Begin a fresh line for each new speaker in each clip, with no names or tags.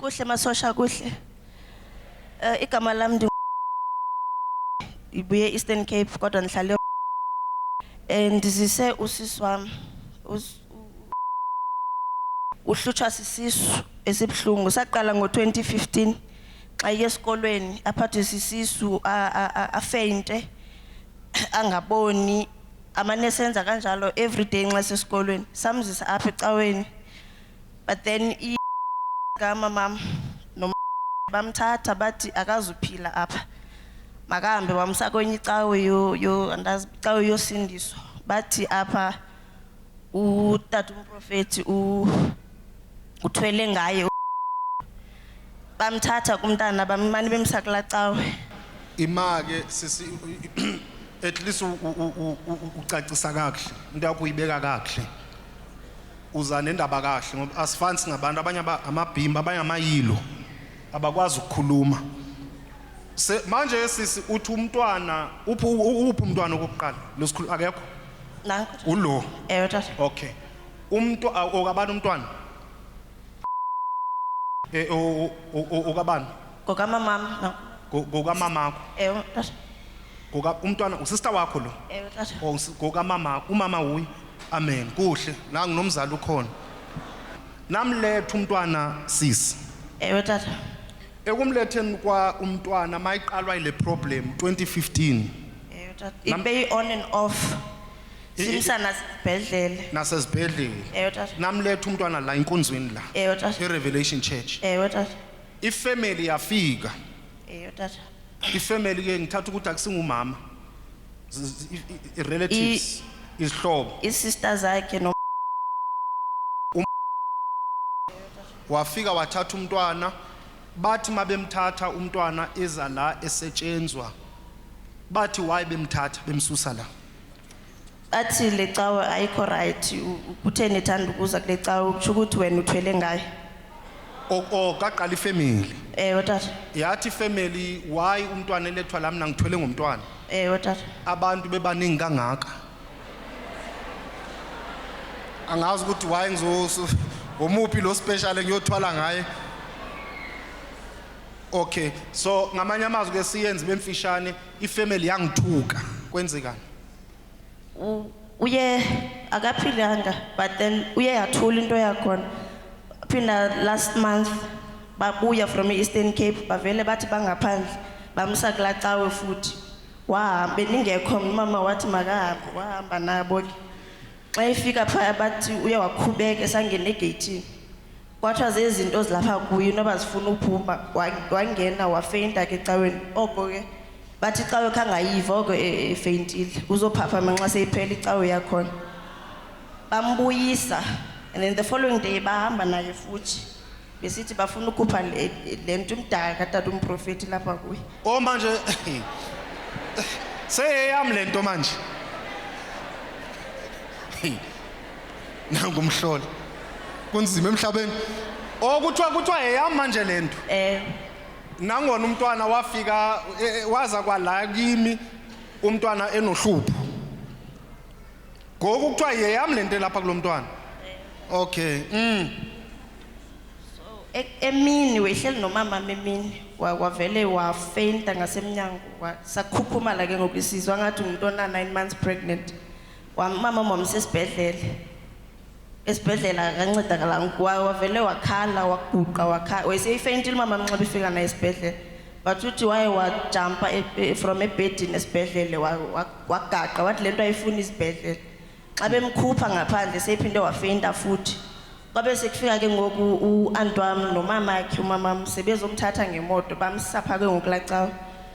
Kuhle masosha kuhle. Eh igama lami ndi ibuye Eastern Cape kodwa ngihlale eh ndizise usisi wami. Us- Uhlutshwa sisisu esibhlungu saqala ngo-2015 xa iye esikolweni aphathwe sisisu a- a- a- afeinte angaboni amane senza kanjalo everyday nxa sesikolweni samzisa apha ecaweni but then i gama mam no bamthatha bathi akazuphila apha makahambe wamsa kwenye icawe yo yo andazi icawe yosindiswa bathi apha utata umprofethi u uthwele ngaye u- bamthatha kumntana bamane bemsa kula cawe imake
sisi at least u- u- u- u- ucacisa kakuhle into yakho uyibeka kakuhle uza nendaba kahle ngoba asifani singabantu abanye amabhimba abanye amayilo abakwazi ukukhuluma se manje sisi uthi umntwana uphi uphi umntwana okokuqala lesikhulu akekho nanku
ulo ewe
tata okay umuntu okabani umntwana eh okabani ngokamamam
no Ngo- ngokamamakho
ewe tata
ngoka umntwana usista
wakho lo ewe tata Oh, usi-
ngokamama
umama wuye amen kuhle la nginomzali ukhona namletha umntwana sisi ewe tata
ekumletheni
kwa umntwana mayiqalwa ile problem 2015 ewe tata
Nam- ibe i-on and off I- i- simsa nasibhedlele nasezibhedlela
ewe tata namletha umntwana
la
inkonzweni la ewe tata erevelation
church
ewe tata
ifamily
yafika eyo tata
ifamily
ke ngithatha ukuthi akusingumama Z- z- i- i- i- relatives izihlobo iisister zakhe
no
wafika wathatha umntwana bathi mabemthatha umntwana eza la esetshenzwa bathi why bemthatha bemsusa la Athi
le cawe ayikho right uthe nithanda ukuza kule cawe ukusho ukuthi wena uthwele ngayo. O- o
kaqala ifamily Ewe tata.
yathi ifamily
why umntwana elethwa la mina ngithwele ngomntwana Ewe tata.
abantu bebaningi
kangaka angazi ukuthi why ngizo omuphi lo special engiyothwala ngaye okay so ngamanye amazwi ke siyenze bemfishane ifamily yangithuka kwenzekani U-
uye akaphilanga but then uye yathula into yakhona phinda last month babuya from e-eastern cape bavele bathi bangaphandle bamsa kula cawe futhi wahamba beningekho mna umama wathi makahambe wahamba nabo ke xa efika phaya bathi uye wakhubeka esangena egeyithini kwathiwa zezinto zilapha kuye noba zifuna uphuma wangena wafeyinta ke ecaweni oko ke bathi icawe khangayiva oko e, e, efeyintile uzophaphama nxa seyiphela icawe yakhona bambuyisa and then the following day bahamba naye futhi besithi bafuna ukhupha le nto umdala katata umprofethi lapha kuye o oh, manje
seyeyam le nto manje nangu umhlola kunzima emhlabeni okuthiwa kuthiwa eyami manje le nto Eh. nangona umntwana wafika eh, eh, waza kwala kimi umntwana enohlupho ngoku kuthiwa yeyami le nto elapha kulo mntwana okay mm. E-
emini wehleli nomama emini wa- wavele wafenta ngasemnyango wa- sakhukhumala ke ngoku isizwa ngathi umuntu ona-nine months pregnant Wamama mama sesibhedlela. Esibhedlela akancedakala ngikwa wavele wakhala waguqa wakhala wayeseyifentile mama amnxiba ifika naye esibhedlela. But uthi waye wajumpa e- e- from ebedini esibhedlela wa- wa- wagaqa wathi lento ayifuni isibhedlela. Xa bemkhupha ngaphandle seyiphinde wafenta futhi. Kwabe sekufika ke ngoku u-aunt wami nomama wakhe umama wami sebezomthatha ngemoto bamsapha ke ngoku lacawa.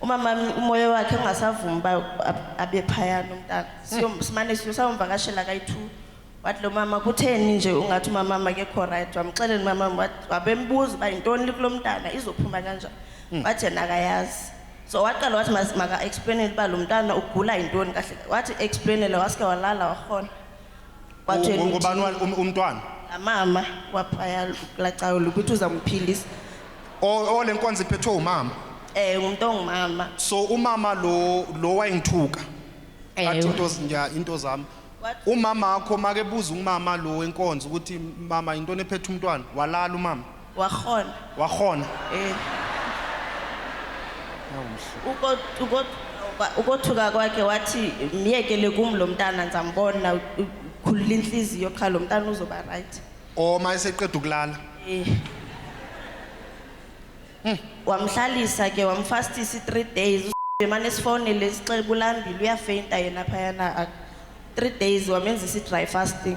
umama umoya wakhe ungasavumi uba abe phayana umntana hmm. simane siyosawumvakashela kayi-two wathi lo mama kutheni nje ungathi umama makekho right wamxeleni umama wabembuza uba yintoni likulo mntana izophuma kanjani hmm. wathi yena akayazi so waqala wathi maka-explainele uba lo mntana ugula yintoni kahle wathi explainele wasike walala wahona Watshela ukuthi- ubani wa- um-
umntwana amama
waphaya lacayo lokuthi uzamphilisa O- ole
nkonzo iphethwe umama um ngumntu
ongumama so umama
lo lo wayengithuka athi Ewe. into zinja into zami What? umama wakho makebuza umama lo wenkonzo ukuthi mama into nephethe umntwana walala umama Wakhona. Wakhona. Eh.
Uko uko ukothuka kwakhe wathi myekele kum lo mntana ndizambona u- u- khulula intliziyo qha lo mntana uzoba right Or uma eseqeda
ukulala. Eh.
wamhlalisa ke wamfastisa i-three days emane sifowunele sixekulambile uyafeyinta yena phayana ak- three days wamenzisa i-dry fasting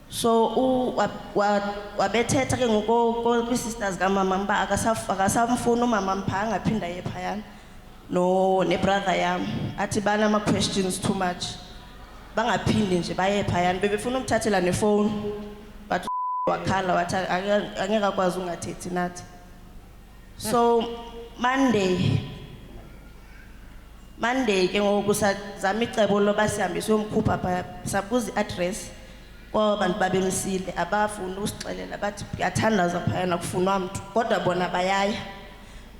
so u wa- wa- wabethetha ke ngoko ko- kwi-sisters kamama uba akasaf- akasamfuni umama mpha angaphinda ye phayana no nebrother yam athi banama-questions too much bangaphindi nje baye phayana bebefuna umthathela nefowuni but wakhala wathi "Ake- angeke akwazi ungathethi nathi so monday monday ke ngoku sazama icebo loba sihambe siyomkhupha pha sabuza i-address kwaba bantu babemsile abafuni usixelela bathi kuyathandaza phayana kufunwa mntu kodwa bona bayaya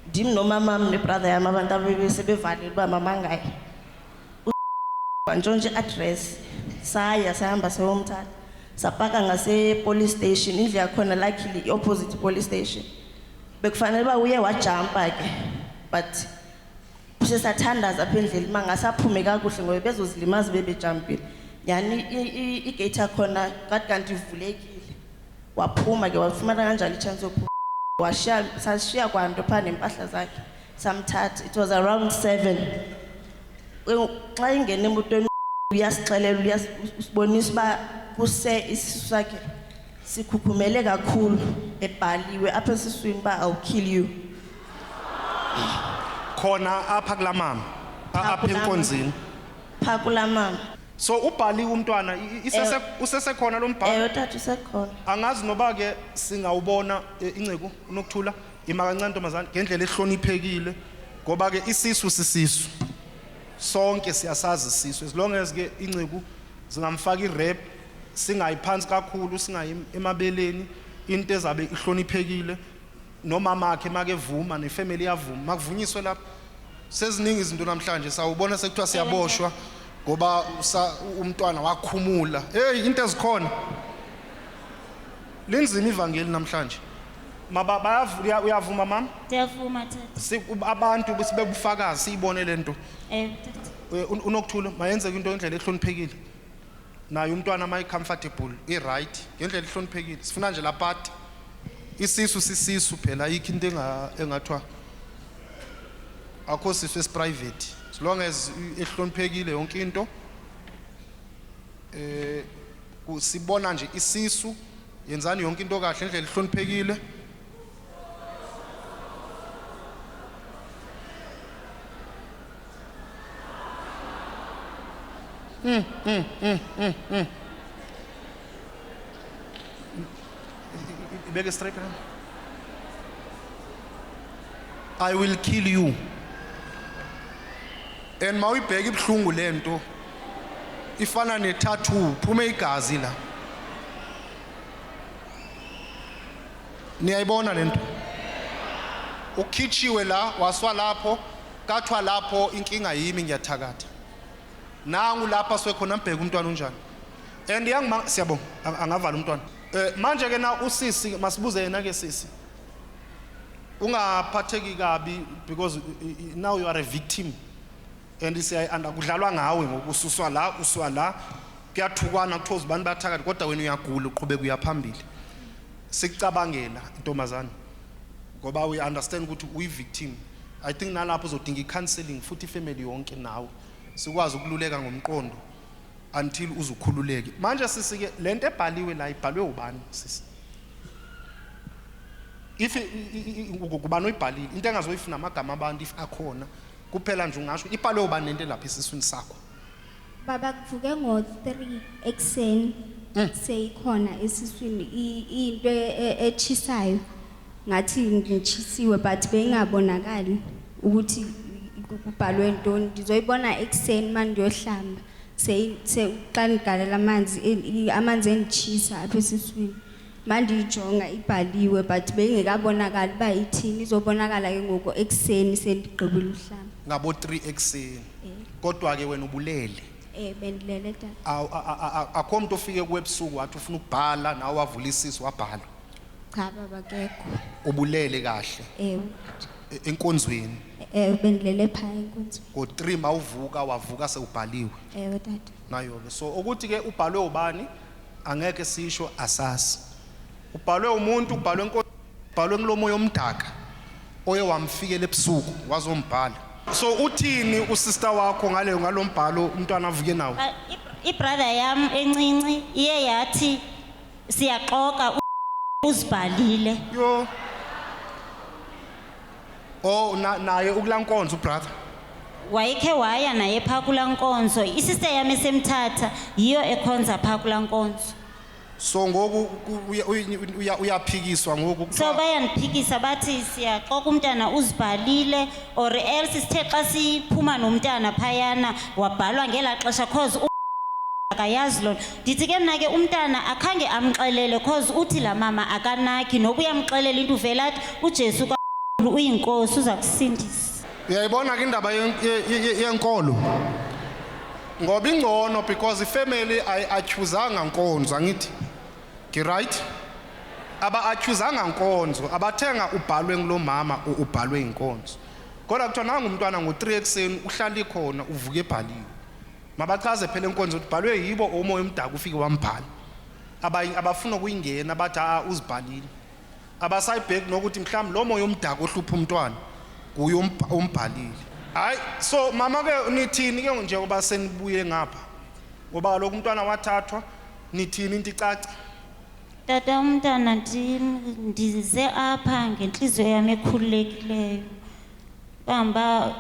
ndim nomamam nebrother yam abantu abebesebevalile uba mamangaye wantshontsha i-address saya sahamba sayomthatha sapaka ngase-police station indlu yakhona luckily i-opposite police station bekufanele uba uye wajampa-ke but sesathandaza apha endleli uma ngasaphume kakuhle ngoba bezozilimaza bebejampile yani igate yakhona kade kanti ivulekile waphuma-ke wafumana kanjalo i-chance yophuma washiya sashiya kwanto phaa nempahla zakhe samthatha it was around 7 xa ingena emotweni uyasixelela uyasibonisa uba kuse isisu sakhe sikhukhumele kakhulu ebhaliwe apha esiswini uba i'll kill you
khona apha kulaa mama apha enkonzini
pha kulaa
mama so ubhaliwe umntwana usesekhona lo mbhalo ewe tata usekhona
angazi noba ke
singawubona eh, inceku unokuthula Ima kancane ntombazane ngendlela ehloniphekile ngoba ke isisu sisisu. Sonke siyasazi isisu as long as ke inceku zingamfaka irap singayiphansi kakhulu singayi emabeleni into ezabe ihloniphekile nomama wakhe makevuma nefamily yavuma makuvunyiswe lapho seziningi izinto namhlanje sawubona sekuthiwa siyaboshwa ngoba umntwana wakhumula hey into ezikhona linzima ivangeli namhlanje Maba bayavu- uya- uyavuma mama? Ndiyavuma tata. Si-
ub- Abantu besibebufakazi
siyibone lento. Eh tata. Eh,
un- Unokuthula
mayenzeke into ngendlela ehloniphekile. Naye umntwana mayi comfortable, i right ngendlela ehloniphekile. Sifuna nje la part. Isisu sisisu phela ayikho into enga engathwa akho sisu esi private. As long as i- ehloniphekile yonke into. Eh Ku- Sibona nje isisu. Yenzani yonke into kahle indlela ihloniphekile. Ibeke straight around. I will kill you. And mawuyibheka ibuhlungu lento ifana ne tattoo phume igazi la niyayibona lento ukhitshiwe la waswa lapho kathwa lapho inkinga yimi ngiyathakatha nangu lapha swekhona mbheka umntwana unjani and yangima siyabonga angavala umntwana eh manje ke na usisi masibuze yena ke sisi ungaphatheki kabi because now you are a victim and siyayi-anda kudlalwa ngawe ngoku ususwa la usuwa la kuyathukwana kuthiwa uzibani bathakathi kodwa wena uyagula uqhubeka uyaphambili sikucabangela intombazane ngoba uyi-understand ukuthi uyi-victim i think nalapho uzodinga i-counseling futhi ifamily yonke nawe sikwazi ukululeka ngomqondo until uzukhululeke manje sisike le nto ebhaliwe la ibhalwe ubani sisi if kubani oyibhalile into engazoyifuna amagama abantu if akhona Kuphela nje ungasho ipalo yoba nento elapha esiswini sakho. Baba
kuvuke ngo 3 ekseni Mm. seyikhona esiswini i- into e- e- echisayo ngathi ngishisiwe but beyingabonakali ukuthi ku- kubhalwe ntoni ngizoyibona ekseni manje ngiyohlamba seyi- se- xa ngigalela amanzi e- i- amanzi engichisa apha esiswini mandiyijonga ibhaliwe but beyingekabonakali uba ithini izobonakala ke ngoku ekuseni sendigqibile uhlamba ngabo-3
ekuseni Eh. kodwa-ke wena ubulele um bendilele
tata Awu- a- a- a- akho mntu
ofike kuwe ebusuku wathi ufuna ukubhala nawe wavula isisu wabhala cha baba
kekho ubulele
kahle ewe e- enkonzweni ewe bendilele
phaya enkonzweni ngo-3 mawuvuka
wavuka sewubhaliwe ewe tata
nayo-ke so
ukuthi-ke ubhalwe ubani Angeke sisho asazi. Ubhalwe umuntu, ubhalwe nko, ubhalwe ngilomoya omdaka oye wamfikela ebusuku wazombhala. So uthini usister wakho ngale ngalombhalo umntwana avuke nawo? Ah, i- ibrother
yam encinci iye yathi siyaxoka u- uzibhalile Yo.
Oh na, naye ukula nkonzo brother. wayekhe
waya naye phaa kulaa nkonzo isista yam esemthatha yiyo ekhonza phaa kulaa nkonzo So ngoku
ku- uya- uya- uya- uyaphikiswa ngoku. so kuthiwa- bayandiphikisa
bathi siyaxoka umntana uzibhalile or else sithe xa siphuma nomntana phayana wabhalwa ngelaa xesha cause u- akayazi loo nto ndithi ke mna ke umntana akhange amxelele cause uthi laa mama akanaki noba uyamxelela into uvele athi ujesu kakhulu uyinkosi uza kusindisa uyayibona ke
indaba yenkolo ngoba ingcono because ifamily ayiakhuzanga nkonzo angithi ngiright aba-akhuzanga nkonzo abathenga ubhalwe ngulo mama ubhalwe inkonzo kodwa kuthiwa nangumntwana ngo-three ekuseni uhlala ikhona uvuke ebhaliwe mabachaze phela enkonzo ukuthi bhalwe yibo umoya omdaka ufike wambhala abanye abafuna ukuyingena bathi a uzibhalile abasayibheki nokuthi mhlawumbe lo moya omdaka ohlupha umntwana kuye umbhalile hayi so mama ke nithini ke njengoba senibuye ngapha ngoba kaloku umntwana wathathwa nithini into icaca Tata
umntana ndim ndize apha ngentliziyo yam ekhululekileyo. Kangoba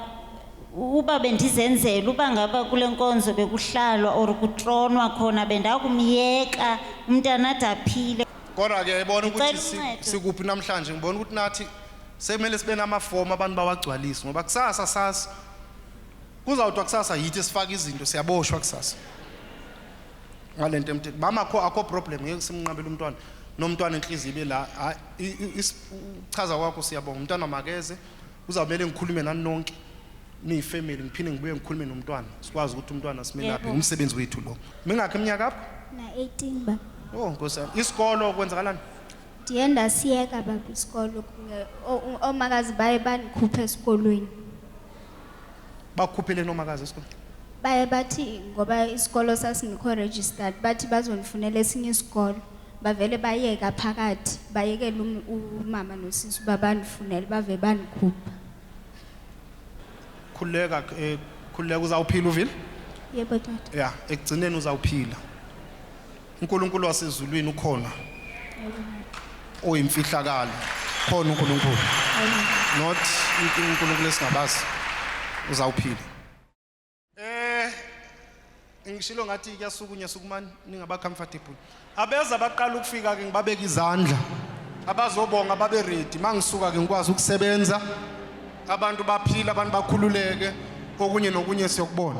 uba bendizenzela uba ngaba kule nkonzo bekuhlalwa or kutronwa khona bendakumyeka umntana ade aphile. Kodwa ke yayibona
ukuthi Ndicela si- uncedo. sikuphi
namhlanje ngibona
ukuthi nathi sekumele sibe namafomu abantu bawagcwalise ngoba kusasa sasi kuzawuthwa kusasa yithi esifaka izinto siyaboshwa kusasa ngale nto emthethweni mama kho akho problem ngeke simnqabele umntwana nomntwana enhliziyo ibe la uchaza kwakho siyabonga umntwana makeze uzawumele ngikhulume nani nonke niyifamily ngiphinde ngibuye ngikhulume nomntwana sikwazi ukuthi umntwana simelaphe ngumsebenzi wethu lo mingakho iminyaka apho na 18 ba
oh nkosi yami
isikolo kwenzakalani ndiye
ndasiyeka baba isikolo omakazi baye bandikhupha esikolweni bakukhuphele
noma kazi esikole baye bathi
ngoba isikolo sasingekho registered bathi bazonifunela esinye isikolo bavele bayeka phakathi bayekela um- umama nosisi uba bandifunele bave bandikhupha
khululeka eh, khululeka uzawuphila uvile yebo tata
ya ekugcineni
uzawuphila uNkulunkulu wasezulwini ukhona oyimfihlakalo khona uNkulunkulu not uNkulunkulu esingabazi uzawuphila eh ngishilo ngathi kuyasukunya sukumani ningaba comfortable abeza baqala ukufika ke ngibabeka izandla abazobonga babe ready mangisuka ke ngikwazi ukusebenza abantu baphila abantu bakhululeke okunye nokunye siyokubona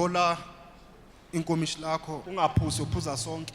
thola inkomishi lakho ungaphuzi uphuza sonke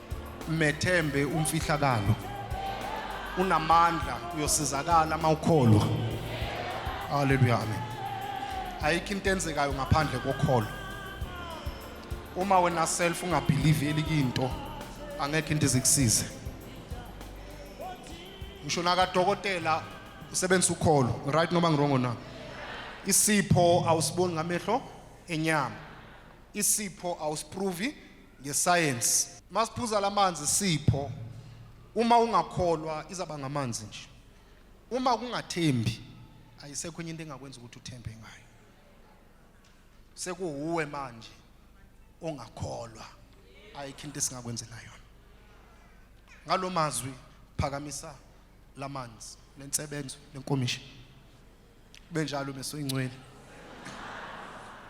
Methembe umfihlakalo. Unamandla uyosizakala uma ukholwa. Haleluya amen. Ayikho into enzekayo ngaphandle kokholo. Uma wena self ungabelieve elikinto angekho into ezikusize. Ngisho naka dokotela usebenzisa ukholo, right noma ngirongo na? Isipho awusiboni ngamehlo enyama. Isipho awusiprovi ngesayensi masiphuza lamanzi sipho uma ungakholwa izaba ngamanzi nje uma kungathembi ayisekho enye into engakwenza ukuthi uthembe ngayo sekuwuwe manje ongakholwa ayikho into esingakwenzela yona ngalomazwi phakamisa lamanzi nensebenzo lenkomishi benjalo meso ingcwele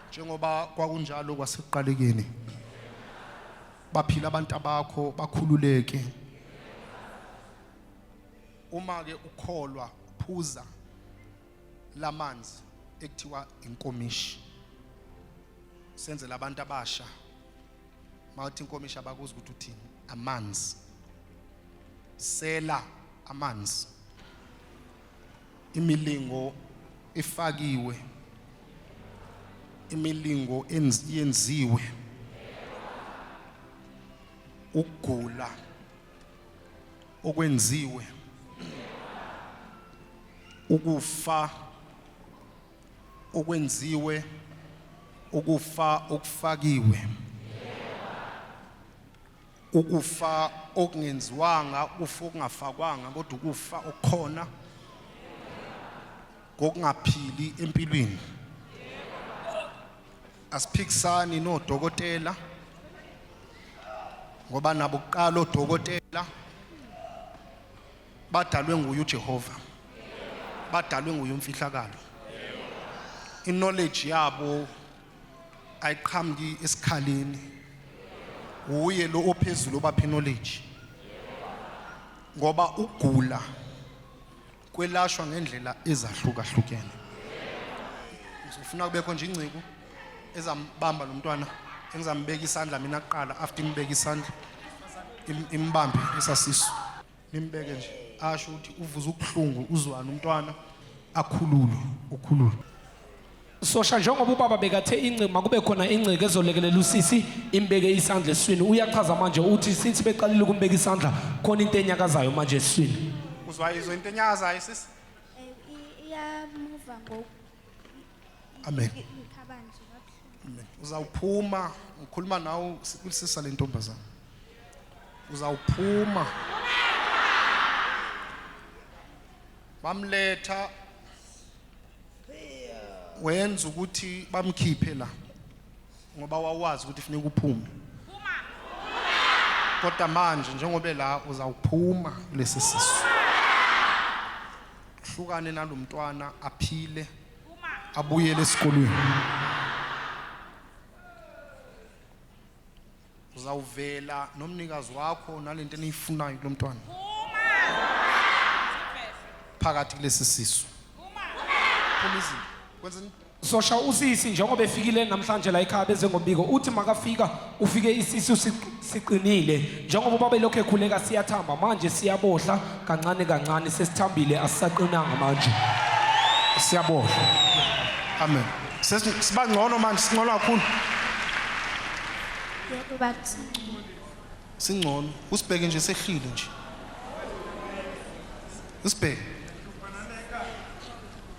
njengoba kwakunjalo kwasekuqalekeni baphila abantu abakho bakhululeke uma ke ukholwa phuza lamanzi ekuthiwa inkomishi senzela abantu abasha mawuthi inkomishi abakuzi ukuthi uthini amanzi sela amanzi imilingo efakiwe imilingo yenziwe ukugula okwenziwe ukufa okwenziwe ukufa okufakiwe ukufa okungenziwanga ukufa okungafakwanga kodwa ukufa okukhona kokungaphili empilweni asiphikisani nodokotela ngoba nabo kuqala odokotela badalwe nguye uJehova badalwe nguye umfihlakalo i-knowledge yabo ayiqhamuki esikhaleni uye lo ophezulu obapha knowledge ngoba ugula kwelashwa ngendlela ezahlukahlukene ngifuna kubekho nje ingciko ezambamba lo mntwana engizambeka isandla mina kuqala after imbeka isandla imbambe isasiso nimbeke nje asho ukuthi uvuza ubuhlungu uzwana umntwana akhululwe ukhululwe
sosha njengoba ubaba bekathe ingcima kube khona ingceke ezolekelela usisi imbeke isandla eswini uyachaza manje uthi since beqalile ukumbeka isandla khona into enyakazayo manje eswini uzwa izwe into
enyakazayo sisi iyamuva
ngoku
Amen.
Amen. Uzawuphuma
ngikhuluma nawe sikusisa le ntombazana. Uzawuphuma. Bamletha wenza ukuthi bamkhiphe la ngoba wawazi ukuthi funeka uphume kodwa manje njengoba la uzawuphuma kulesi sisu hlukane nalomntwana aphile abuyele esikolweni uzawuvela nomnikazi wakho nalento eniyifunayo kulomntwana phakathi kulesi sisu phuma izini kwenza Sosha usisi
njengoba efikile namhlanje la ekhaya beze ngombiko uthi makafika ufike isisu si- siqinile njengoba ubaba elokhu ekhuleka siyathamba manje siyabohla kancane kancane sesithambile asisaqinanga manje Siyabonga.
Amen. Sesi sibangcono manje singcono kakhulu.
Yebo bathi
Singcono. Usibheke nje sehlile nje. Usibheke.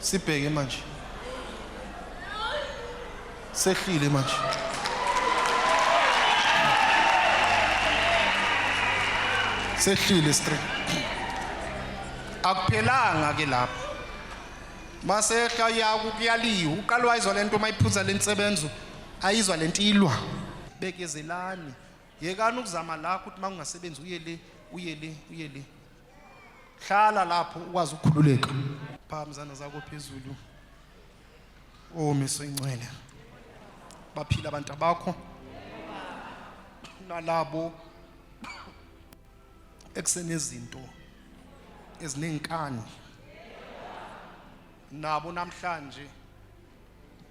sibheke manje sehlile manje sehlile straight akuphelanga ke lapho masehla yaku kuyaliwa uqalwa izwa lento mayiphuza lensebenzo ayizwa lento ilwa bekezelani yekani ukuzama la ukuthi makungasebenzi uye le uye le uye le hlala lapho ukwazi ukukhululeka phakathi izandla zakho phezulu omiso incwele baphila abantu bakho nalabo ekusenezinto ezinenkani nabo namhlanje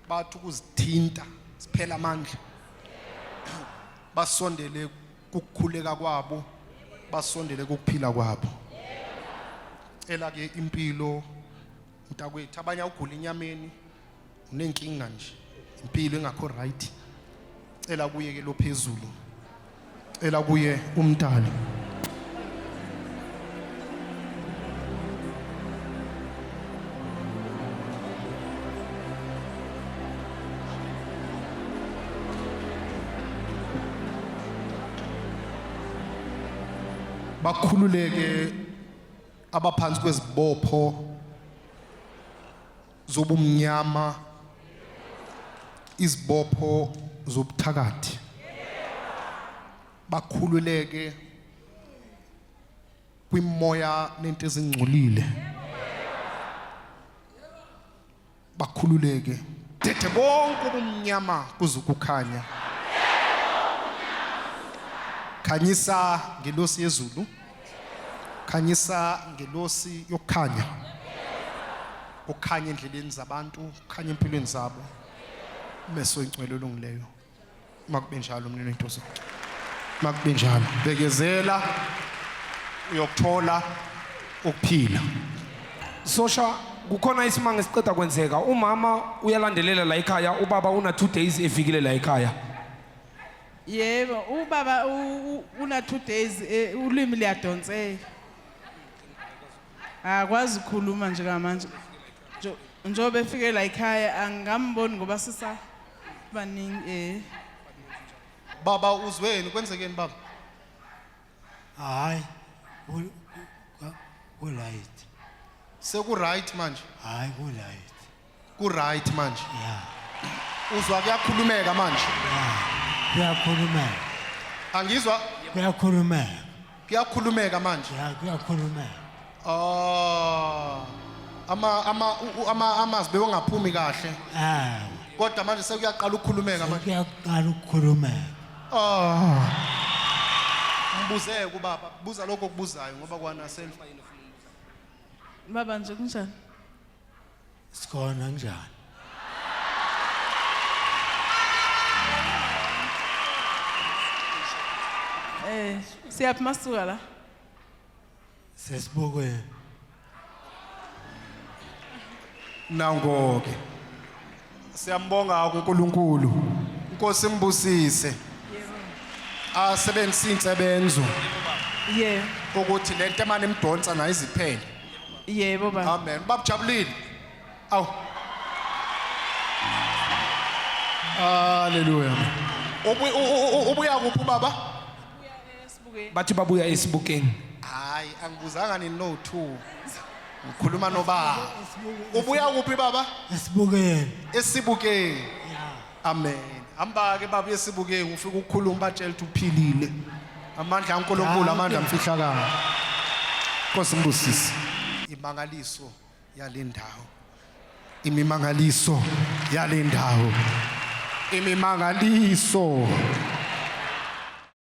bathi ukuzithinta siphela amandla basondele kukukhuleka kwabo basondele kukuphila kwabo cela ke impilo mntakwethu abanye awugula inyameni unenkinga nje impilo engakho right cela kuye ke lophezulu cela kuye umdali bakhululeke abaphansi kwezibopho zobumnyama izibopho zobuthakathi bakhululeke kwimoya nento ezingcolile bakhululeke dethe bonke ubumnyama kuze ukukhanya khanyisa ngelosi yezulu khanyisa ngelosi yokukhanya ukhanye endleleni zabantu ukhanye empilweni zabo meso incwelo olungileyo makube njalo mnini wentosi makube njalo bekezela uyokuthola ukuphila
sosha kukhona isimanga esiqeda kwenzeka umama uyalandelela la ekhaya ubaba una two days efikile la ekhaya
yebo ubaba u- u- una two days eh, ulwimi liyadonseka akwazi ukukhuluma nje kamanje njengoba efike la ekhaya angikamboni ngoba sisa baningi eh
baba uzweni kwenzekeni baba hayi
ku right seku
right manje hayi ku right
ku right
manje ya
uzwa
kuyakhulumeka manje
kuyakhulumeka
angizwa kuyakhulumeka
kuyakhulumeka
manje ya kuyakhulumeka
ah ama
ama u- u- ama amazwi bewangaphumi kahle ah kodwa manje sekuyaqala ukukhulumeka manje kuyaqala
ukukhulumeka ah
mbuze kubaba buza lokho okubuzayo ngoba kwana self baba
nje kunjani
Sikhona njani?
Eh, siyaphi masuka la?
Sesibukweni.
Nangoke. Siyambonga uNkulunkulu. Inkosi imbusise. Asebenzise insebenzo Yebo.
ukuthi lento
emane imdonsa nayo iziphele. Yebo
baba. Amen. Babujabulile.
Aw. Hallelujah. Ubu- u- u- u- Ubuya kuphi baba?
Sibukeni. bathi babuya esibukeni hayi
angibuzanga nini no two ngikhuluma nobaba ubuya kuphi baba esibukeni
esibukeni
amen hamba-ke baba esibukeni ufike ukukhuluma batshela ukuthi uphilile amandla ankulunkulu amandla amfihlakalo nkosi mbusise imangaliso yale ndawo imimangaliso yale ndawo imimangaliso